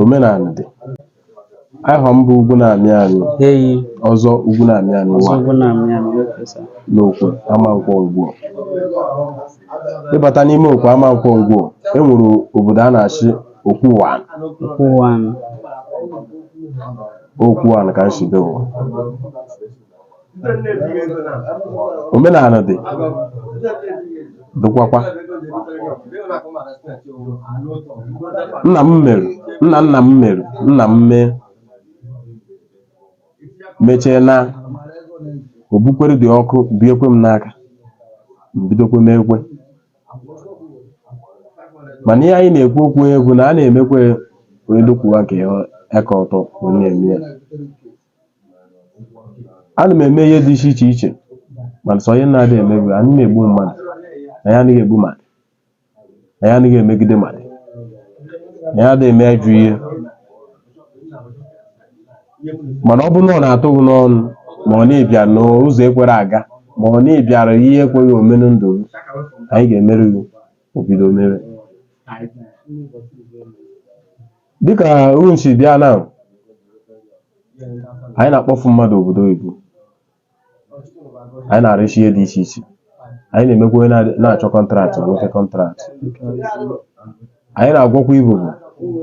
omenala dị aha m bụ ugwu na-amị amị eyi ọzọ ugwu na-amị amị ọzọ wa ugwu na-amị amị okay sir n'okwe amankwọ ngwo ịbata n'ime okwe amankwọ ngwo e nwere obodo a na-asị okwe uwanị okwe uwanị okwe uwanị ka m si bịa ụwa omenala dị dịkwakwa nna m mere nna nna m mere nna m mee mechie na obukwere dị ọkụ biekwe m n'aka bidokwe m ekwe mana ihe anyị na-ekwu okwu bụ na a na-emekwe onye dokwuwa nke aka ọtọ wee na-eme ya a na m eme ihe dị iche iche iche mana sọ ihe m na-adịghị eme bụ anyị na-egbu mmadụ anyị adịghị egbu mmadụ anyị adịghị emegide mmadụ anyị adịghị eme ajọ ihe mana ọ bụrụ na ọ na-atụ gị n'ọnụ ma ọ na ị bịara n'ụzọ ekwerọ aga ma ọ na ị bịara ihe ekweghị ome na ndụ gị anyị ga-emere gị o bido mere dịkà unu si bịa na anyị na-akpọfu mmadụ obodo oyibo anyị na-arụsị ihe dị iche iche anyị na-emekwa onye na- na-achọ kọntraktị nwee kọntraktị anyị na-agwọkwa ibobo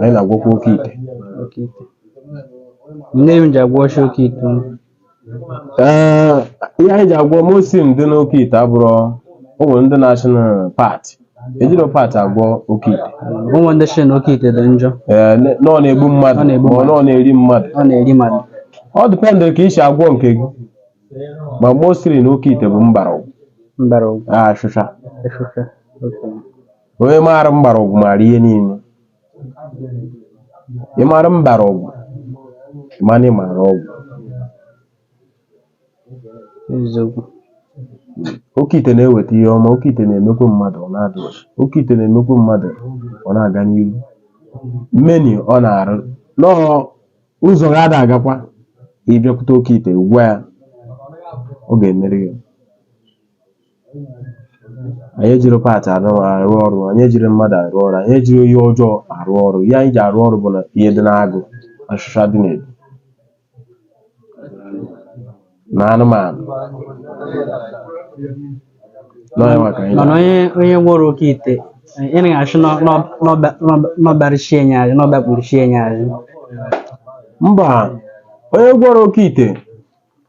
anyị na-agwọkwa oke ite Oke ite. Nne m ji agwọcha oke ite. Ee, ihe anyị ji agwọ mostly dị n'oke ite abụrọ o nwere ndị na-asị na part ejirọ part agwọ oke ite ụmụ ndị si na oke ite dị njọ Ee, ne- na ọ na-egbu mmadụ Ọ na-egbu ma ọ na ọ na-eri mmadụ ọ na-eri mmadụ ọ dịpendịrị ka i si agwọ nke gị ma mostly na oke ite bụ mgbọrọgwụ mbara ọgwụ ashịsha efịfịa okay onye maara mgbọrọgwụ maara ihe niile Ị mara mbara ọgwụ? Ị ma na ị mara ọgwụ? Eziokwu. Oke ite na-eweta ihe ọma, oke ite na-emekwa mmadụ ọ na-adị ọcha. Oke ite na-emekwa mmadụ ọ na-aga n'ihu. Mmeni ọ na-arụ na ụzọ gị ada agakwa ị bịakwute oke ite gwa ya ọ ga-emere gị. anyị ejirọ part arụ arụ ọrụ anyị ejirọ mmadụ arụ ọrụ anyị ejirọ ihe ọjọọ arụ ọrụ ihe anyị ji arụ ọrụ bụ na ihe dị n'agụ ashịsha dị n'egu na anụmanụ n'ọnya maka anyị mana onye onye nwere oke ite ị na-asị n'ọbarịchie nye anyị n'ọbakpụrụchie nye anyị mba onye gwọrọ oke ite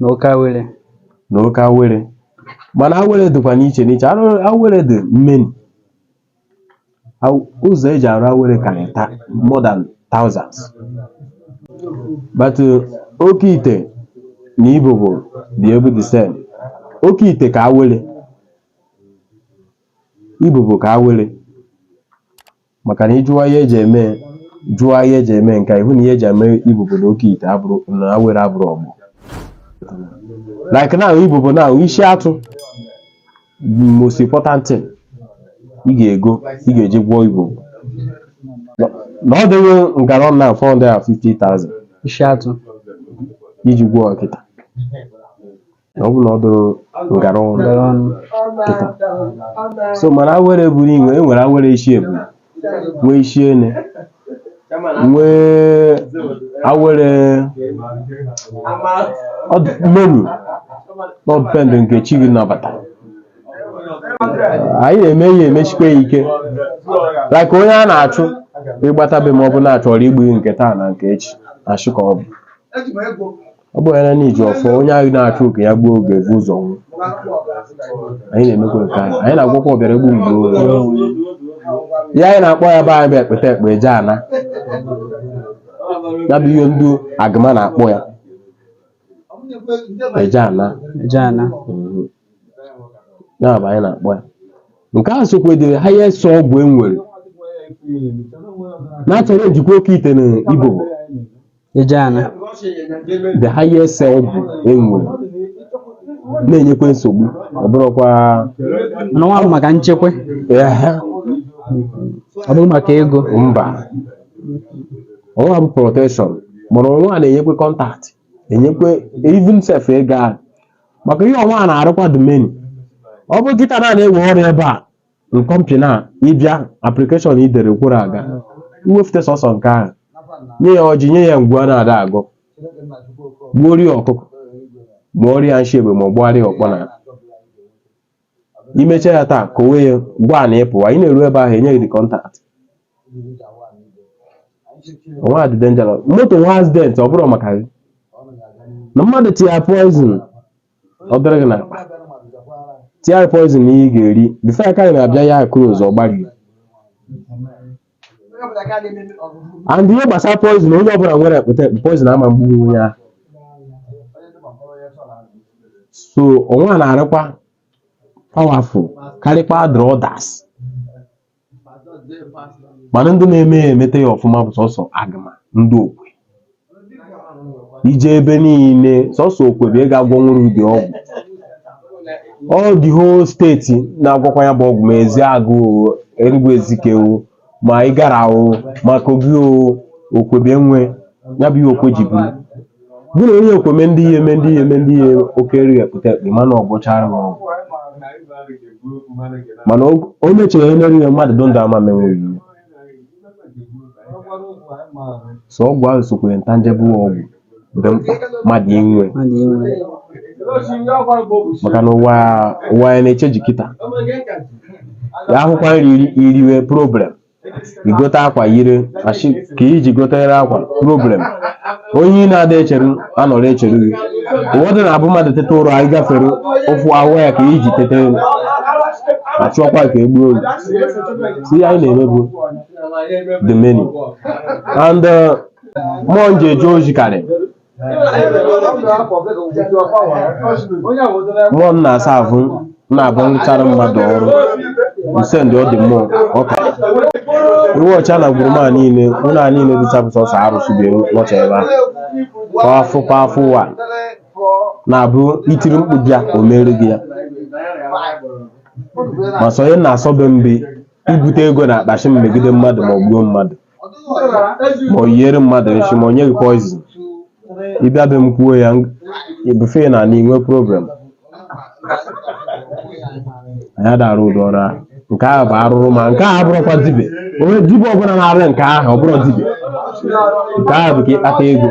na oke awere na oke awere mana awere dịkwa n'iche n'iche Arụ- awere dị many Aw- ụzọ eji arụ awere karịrị ta- more than thousands but uh, oke ite na ibobo dị ebu the same oke ite ka awere ibobo ka awere maka na ịjụwa ihe eji eme jụọ ihe eji eme nka ịhụ na ihe eji eme ibobo na oke ite abụrụ na awere abụrụ ọgbọ like now ibobo now isi atụ most important thing ị ga-ego ị ga-eji gwọọ ibobo na ọ dịghị ngara na 450,000 isi atụ iji gwọọ kịta ọ bụrụ na ọ dụrụ ngara ọnụ Ngara ọnụ. kịta so mana awere buru inwe e nwere awere isi ebu nwee isi ene nwee awere ọ dị- many ọ depend nke chi gị nabata anyị na-eme ihe emesikwa ya ike like onye a na-achụ ịgbatabe ma ọ bụ na-achọrọ igbu nke taa na nke echi achụ ka ọ bụ Ọ bụ na n'iji ọfọ onye ahụ na-achụ oke ya gbuo oge bụ ụzọ nwụ anyị na-emekwa nke anyị anyị na-agwọkwa ọbịara egbu m gbuo onwe ihe anyị na-akpọ ya be anyị bụ ekpete ekpe eje ana ya bụ ihe ndị agụma na-akpọ ya eje ana eje ana Mhm. ya bụ anyị na-akpọ ya nke a sokwa dị ha ya eso ọgwụ e nwere na-achọrọ njikwa oke ite na ibobo eje ana the highest ọgwụ e nwere na-enyekwa nsogbu ọ bụrụkwa n'ọnwa maka nchekwa ehe, ọ bụrụ maka ego mba ọnwa bụ protection mana ọnwa a na-enyekwa contract enyekwa even sef ego ahụ maka ihe ọnwa a na-arụkwa dị many ọ bụ kịta na a na-ewe ọrụ ebe a n'company ị bịa application i dere kworo aga iwefute sọsọ nke ahụ nye ya ọjị nye ya ngwu a na-ada agụ gbuoro ya ọkụkọ ma ọ rie nshi egbe ma ọ gbụgharịa ọkpọ na imecha ya taa ka owe ya gwa na ịpụwa ị na-eru ebe ahụ enye gị the contract ọnwa dị dangerous moto nwa accident ọ bụrụ maka gị na mmadụ tiya poison ọ dịrị gị n'akpa tie anyị poison na ihe ị ga-eri before aka gị na-abịa ya close ọ gbarie and ihe gbasara poison onye ọbụla nwere ekpete ekpe poison ama gbu onye ahụ so ọnwa na-arịkwa powerful karịkwa the others mana ndị na-eme ya emete ya ọfụma bụ sọsọ agụma ndị okwe ije ebe niile sọsọ okwe bụ ị ga-agwọnwu ụdị ọgwụ ọ dị whole steeti na-agwọkwa ya bụ ọgwụ ma ezeagụ o enugwu ezike o ma ịgara o ma kogi o okwebe nwe ya bụ ihe okwe ji buru bụ na onye okwe me ndị ihe eme ndị ihe eme ndị ihe oke eri epụta ekpe mana ọ gwọchara gị ọgwụ mana o- o mechara ihe mere ihe mmadụ dị ndụ ama menweghị ihe so ọgwụ ahụ sokwa intangible ọgwụ dị mkpa mmadụ inwe mmadụ inwe maka na ụwa ụwa ya na-eche ji kịta ya ahụkwa nri iri- iriwe problem igote akwa yiri achọ ka iji gotere akwa problem onye ị na-ada echeru anọrọ echeru gị ụfọdụ na-abụ mmadụ teta ụra anyị gafere ụfụ awa ya ka iji teta elu ma chọkwa ka egbuo olu si ihe anyị na-eme bụ the menu and uh, mmụọ m ji eje ozi karị mmụọ m na-asa ahụ na-abụ m rụchara mmadụ ọrụ nse ndị ọ dị mmụọ ọka iwe ọcha na gburu ma niile ụlọ a niile dịcha bụ sọsọ arụsị bịa nọcha ebe a kwa afọ kwa afọ ụwa na-abụ itiri mkpu bịa o mere gị ya ma sọ ihe na-asọ be m bụ ibute ego na akpa sị m megide mmadụ ma ọ gbuo mmadụ ma o yiere mmadụ nshi ma o nye gị poizin ịbịa be m kwuo ya ebufe na ala inwe problem anyị ada arụ ụdị ọrụ ahụ nke ahụ bụ arụrụ ma nke ahụ abụrụkwa dibe onye dibe ọbụla na-arụ nke ahụ ọ bụrụ dibe nke ahụ bụ ka ịkpata ego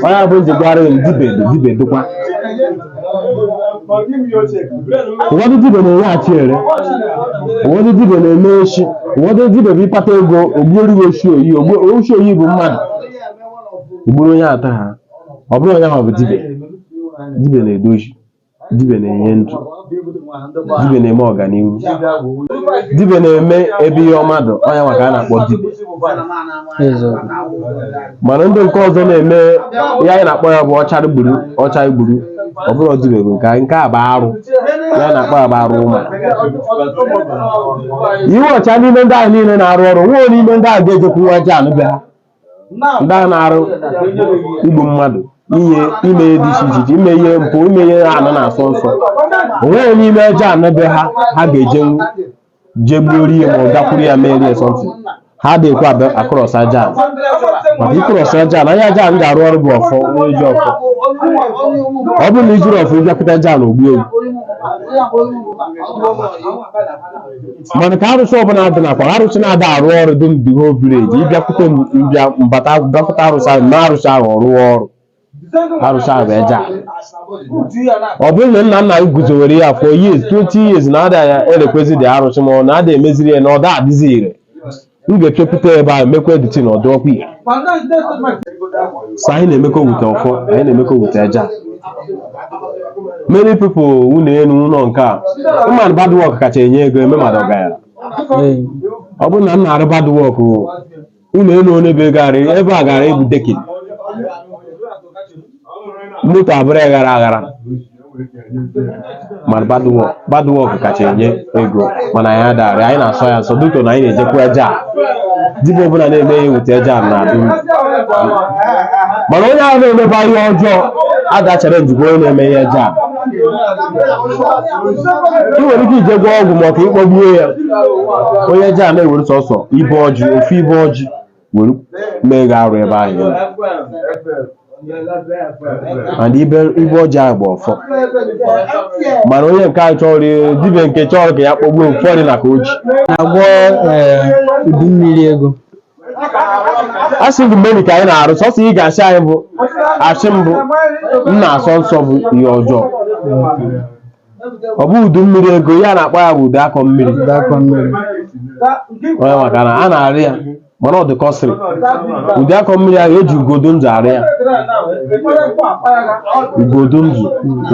ọ ya bụ m ji gwara dibe dị dibe dịkwa ụfọdụ dibe na-eweghachi ere ụfọdụ dibe na-eme oshi ụfọdụ dibe bụ ịkpata ego ogbuoriwe oshi oyi ogbu- oshi oyi bụ mmadụ ogburu onye ata ha ọ bụrụ onye ahụ bụ dibe dibe na-edozi dibe na-enye ndụ dibe na-eme ọganihu dibe na-eme ebe ihe ọma dị onye ahụ ka a na-akpọ dibe Eziokwu. mana ndị nke ọzọ na-eme ihe anyị na-akpọ ya bụ ọcha gburu ọcha gburu ọ bụrụ dibe bụ nke anyị nke a bụ arụ ihe a na-akpọ ya bụ arụ ụma iwe ọcha n'ime ndị ahụ niile na-arụ ọrụ nwee n'ime ndị ahụ ga-ejekwu n'ajanị be ha ndị a na-arụ igbu mmadụ inye ime ihe dị iche iche iche ime ihe mpụ ime ihe anị na-asọ nsọ onweghị n'ime ajanị be ha ha ga-ejenwu jee gbuo rie ma ọ gakwuru ya mee rie sọntị ha adịghịkwa abịa across aja ala maka ị cross aja ala anya aja ala m ga-arụ ọrụ bụ ọfọ onye ji ọfọ ọ bụrụ na i jiri ọfọ ịbịakwute aja ala o gbue gị mana ka arụsị ọbụla dị nakwa arụsị na-ada arụ ọrụ dị na the whole village ịbịakwute m mbịa mbata bịakwute arụsị ahụ na arụsị ahụ ọ rụwa ọrụ arụsị ahụ bụ eja ala ọ bụrụ na nna nna gị guzowere ya for years 20 years na ada ya erekwezi dị arụsị ma ọ na ada emeziri ya na ọ da adịzi ire m ga-echepụta ebe ahụ mekwa editi na ọdụ ọkwa ihe so anyị na-emekọ with ọfọ anyị na-emekọ with eja many people ụlọ elu ụlọ nke a mmadụ bad work kacha enye ego eme mmadụ ọgaranya ọ bụrụ na m na-arụ bad work ụlọ elu ole bụ ego ara ebe a gara ebu decking moto abụrụ aghara aghara mana bad work kacha enye ego mana anyị ada arụ ya anyị na-asọ ya nsọ dịka na anyị na-ejekwu eja dibịa ọbụla na-eme ihe with eja na-adị ire mana onye ahụ na-emeba ihe ọjọọ ada achọ ijekwu onye na-eme ihe eja ị nwere ike ije gwọ ọgwụ ka ị kpọgbuo ya onye eja na-ewere sọsọ ibe ọjị ofu ibe ọjị were mee gị arụ ebe ahụ ị nọ. and ibe ibe ọjị ahụ bụ ọfọ mana onye nke a chọrọ ị- dibịa nke chọrọ ka ya kpọgbuo ụfọdụ na ka o ji na-agwọ ee, udu mmiri ego a sị gị mgbe ka anyị na-arụ sọsọ ị ga-asị anyị bụ asị mbụ m na-asọ nsọ bụ ihe ọjọọ ọ bụ udu mmiri ego ihe a na-akpọ ya bụ udu akọ mmiri. onye maka na a na-arụ ya mana ọ dị costly udu akọ mmiri ahụ eji ugo dị ndụ arụ ya ugo dị ndụ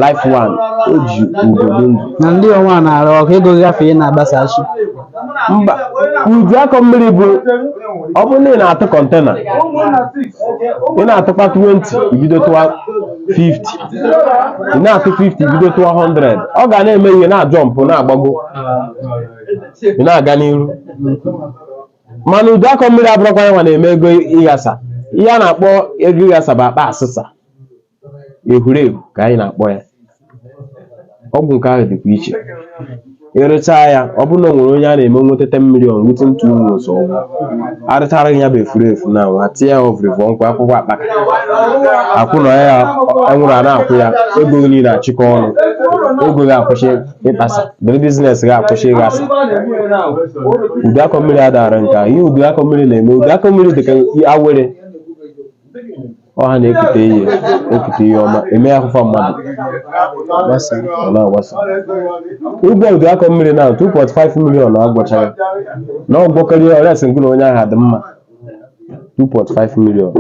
live one o ji ugo dị ndụ Na ndị ọnwa na-arụ ọkụ ego gafee na-agbasachi. mba udu akọ mmiri bụ ọ bụrụ na ị na-atụ container ị na-atụkwa 20 i bido tụwa 50 ị na-atụ 50 i bido tụwa 100 ọ ga na-eme ihe na-ajọmpụ na-agbago ị na-aga n'iru mana udu akọ mmiri abụrọkwa ya nwa na-eme ego ịghasa ihe a na-akpọ ego ịghasa bụ akpa asịsa ehurehu ka anyị na-akpọ ya ọgwụ nke ahụ dịkwa iche ị rụchaa ya ọ bụrụ na o nwere onye a na-eme nweta 10 million within two months ọgwụ arụchara gị ya bụ efuru efu na nwa tinye ya ọvụrịvụ nkwa akwụkwọ akpaka akwụ na ya enwere a na-akwụ ya ego gị niile achịkọ ọnụ ego gị akwụsị ịkpasa dịrị business gị akwụsị ịghasa udu akọ mmiri adara nke a ihe udu akọ mmiri na-eme udu akọ mmiri dị ka awere ọha na-ekute ihe ekute ihe ọma eme afụfa mmadụ ọ na-agbasa ụgwọ ụdị akọ mmiri na 2.5 million na agwọchara na ọgwọkarị ọrịa sị ngụlụ onye ahụ adị mma 2.5 million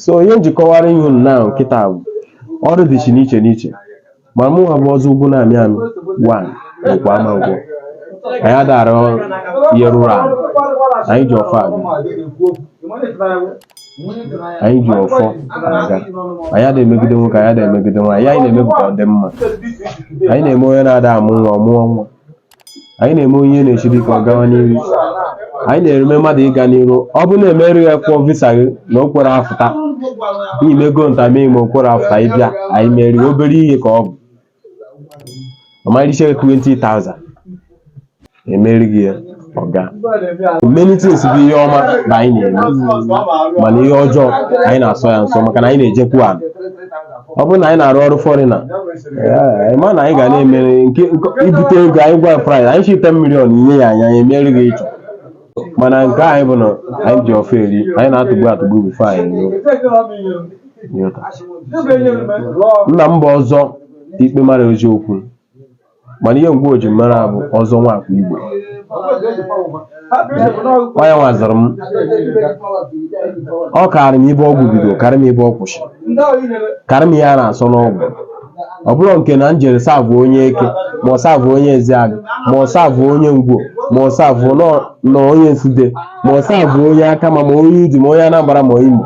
so ihe m ji kọwara ihu na nkịta bụ ọrụ dịsị n'iche n'iche Ma mụnwa bụ ọzọ ugwu na-amị amị wa bụkwa Amankwọ anyị ada arụ ihe rụrụ ala anyị ji ọfọ aga anyị ji ọfọ aga anyị ada emegide nwoke anyị ada emegide nwaanyị anyị na-eme bụ ka ọ dị mma anyị na-eme onye na-ada amụ nwa ọ mụọ nwa anyị na-eme onye na-esiri ike ọ gawa n'ihu anyị na-eme mmadụ ịga n'ihu ọ bụ na-emerụ ya kwụọ visa gị na o kwere afụta i meego interview ma o kwere afụta ị bịa anyị mere obere ihe ka ọ bụ ọmarịcha 20,000 emeri gị ya ọ gaa many things bụ ihe ọma na anyị na-eme mana ihe ọjọọ anyị na-asọ ya nsọ maka na anyị na-ejekwu ala ọ bụrụ na anyị na-arụ ọrụ foreigner anyị ma na anyị ga na-emere nke nke- i bute ego anyị gwa price anyị sị 10 million i nye ya anyị anyị emere gị ihe ị chọ mana nke anyị bụ na anyị ji ọfọ eri anyị na-atụgbu atụgbu before anyị eruo. Ịghọta? nna m bụ ọzọ ikpe mara eziokwu mana ihe Ngwo ji mara bụ ọzọ nwakwa igwe onye nwa zụrụ m ọ kaara m ibe ọgwụ bido kaara m ibe ọ kwụsị kaara m ihe a na-asọ n'ọgwụ ọ bụrụ nke na m jere serve onye Eke ma serve onye Ezeagụ ma serve onye Ngwo ma serve nọ- nọ onye Nsude ma serve onye Akama ma onye Udi ma onye Anambra ma Imo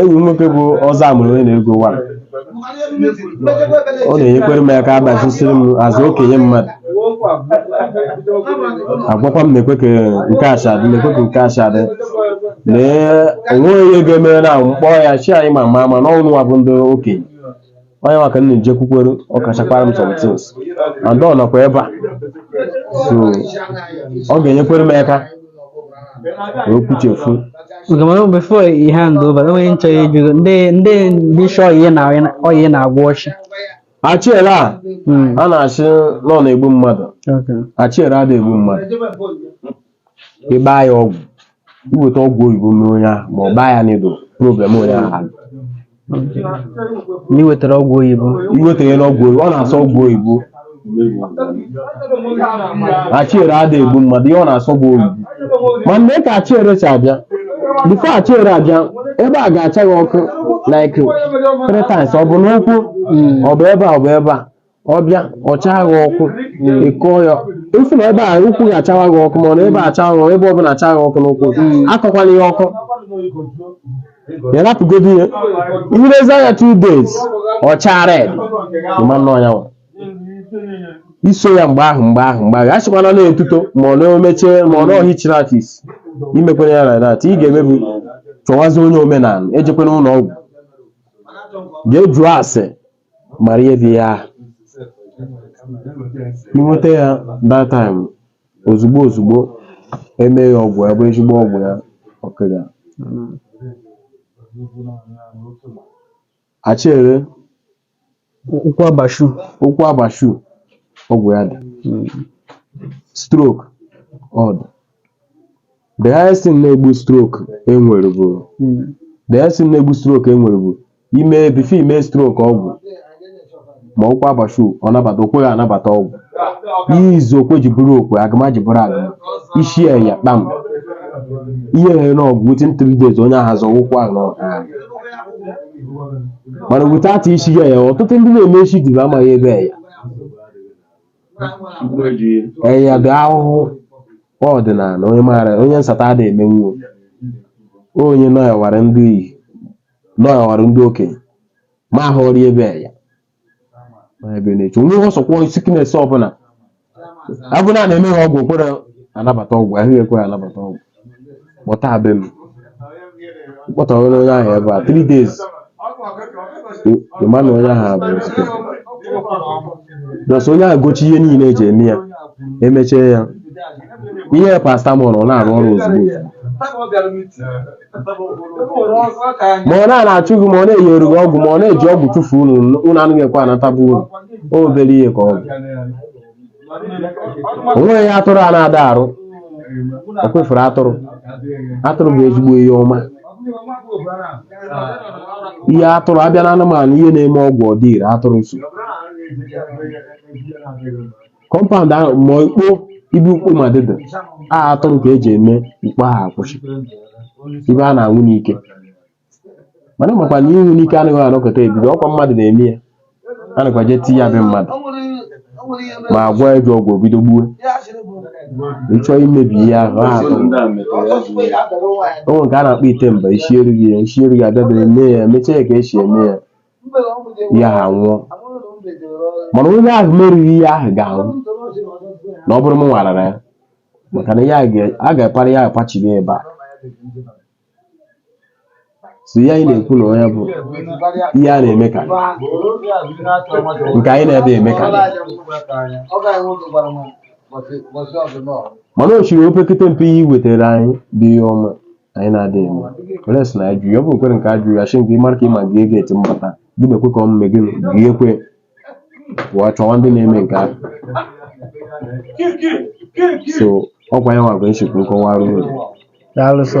Enyi m nwoke bụ ọzọ amụrụ onye na-ego wa ọ na-enyekwere m aka agbachisiri m azụ okenye mmadụ agwakwa m na-ekwe ka nke a si adị na-ekwe ka nke a si adị na enweghị ihe ga-eme na m kpọrọ ya sị anyị ma ma ma na ọ wụ unu wa bụ ndị okenye onye nwa ka m na-ejekwukwere ọ kachakwara m some things and ọ nọkwa ebe a so ọ ga-enyekwere m aka ka o kwuchefu Okay mana before ị hand over o nwe ihe m chọ ịjụ gị ndị ndị ndị shọ ihe na ọya ị na-agwọ sị achiere a Mm. a na-asị na ọ na-egbu mmadụ Okay. achiere ada egbu mmadụ ị gbaa ya ọgwụ i weta ọgwụ oyibo mee onye ahụ ma ọ gbaa ya needle problem onye ahụ alụ. Na i wetara ọgwụ oyibo. i wetara ọgwụ oyibo ọ na-asọ ọgwụ oyibo achiere ada egbu mmadụ ihe ọ na-asọ bụ oyibo ma mgbe ka achiere si abịa before achiere abịa ebe a ga-acha gị ọkụ like three times ọ bụ n'ụkwụ ọ bụ ebe a ọ bụ ebe a ọ bịa ọ chaa gị ọkụ ị kọọ ya ifu na ebe a ụkwụ ga-achawa gị ọkụ mana ebe a chaa gị ọkụ ebe ọbụla chaa gị ọkụ n'ụkwụ akọkwala ya ọkọ ya rapụgodo ihe ilezi anya two days ọ chaa red ịma nnọọ ya nwa iso ya mgbe ahụ mgbe ahụ mgbe ahụ a sịkwana na etuto ma ọ na omeche ma ọ na ọhichiri aka isi imekwana ya like that ị ga-emebu chọwazi onye omenala ejekwana ụlọ ọgwụ jee jụọ ase mara ihe dị ya ahụ inweta ya that time ozugbo ozugbo eme ya ọgwụ ya bụrụ ezigbo ọgwụ ya ọkịrị ya achere ụkwụ abashu ụkwụ abashu ọgwụ ya dị stroke ọ dị The highest thing na-egbu stroke enwere bụ the highest thing na-egbu stroke enwere bụ ime before ime stroke ọgwụ ma ụkwụ abashu ọ nabata okweghị anabata ọgwụ ihe izu okwe ji bụrụ okwe agama ji bụrụ agama isi ya ya kpam ihe ehere n'ọgwụ within three days onye ahụ azọ ụkwụ ahụ n'ọgwụ mana without isi ya ya ọtụtụ ndị na-eme isi dịbe amaghị ebe ya ee ya dị ahụhụ ọdịnala onye maara onye nsata ada emenwuo onye nọyawara ndị iyi nọyawara ndị okenye ma ahụrụ ebe ya ma ebe na-eche onwe ihe ọsọkwọ sickness ọbụla abụ na na-eme ha ọgwụ kwere anabata ọgwụ ahụ ekwe anabata ọgwụ kpọta be m kpọtawere onye ahụ ebe a 3 days ịma na onye ahụ bụ ezigbo plus onye ahụ gochi ihe niile eji eme ya emechie ya ihe paracetamol ọ na-arụ ọrụ ozugbo ma ọ na-achụ gị ma ọ na-enyere gị ọgwụ ma ọ na-eji ọgwụ tụfuo unu unu anaghị ekwe anata bụ unu o obere ihe ka ọ bụ o nweghị atụrụ a na-ada arụ o kwefuru atụrụ atụrụ bụ ezigbo ihe ọma ihe atụrụ abịa na anụmanụ ihe na-eme ọgwụ ọ dị ire atụrụ nso compound ahụ ma ikpo ibu mkpo ma dịdị a atụrụ ka eji eme mkpo ahụ akwụsị ibe a na-anwụ n'ike mana makwa na ịnwụ n'ike anaghị anọkata ebido ọkwa mmadụ na-eme ya a nakwa jee tinye ya be mmadụ ma agwa eji ọgwụ ọ bido gbuo ịchọọ imebi ihe ahụ ha atọ onwe nke a na-akpọ ite mba isi erughị ya isi erughị adabere mee ya emechaa ya ka esi eme ya ihe ahụ nwụọ mana onye ahụ merụghị ihe ahụ ga-anwụ na ọ bụrụ m nwarara ya maka na ya ga- a ga-apara ya akpachiri ebe a so ihe anyị na-ekwu na onye bụ ihe a na-eme ka nke anyị na-adịghị eme ka mana o chiri opekete mpe ihe i wetara anyị bụ ihe ọma anyị na-adịghị eme were sị na ajụ ya ọ bụ nkwere nke ajụ ya shi nke ịmara ka ịma gị ego eti mbata gị na-ekwe ka ọ mme gị gị ekwe pụọ chọwa ndị na-eme nke ahụ so ọkwa ya nwa bụ ihe m shi ka m kọwaarụ daalụ sọ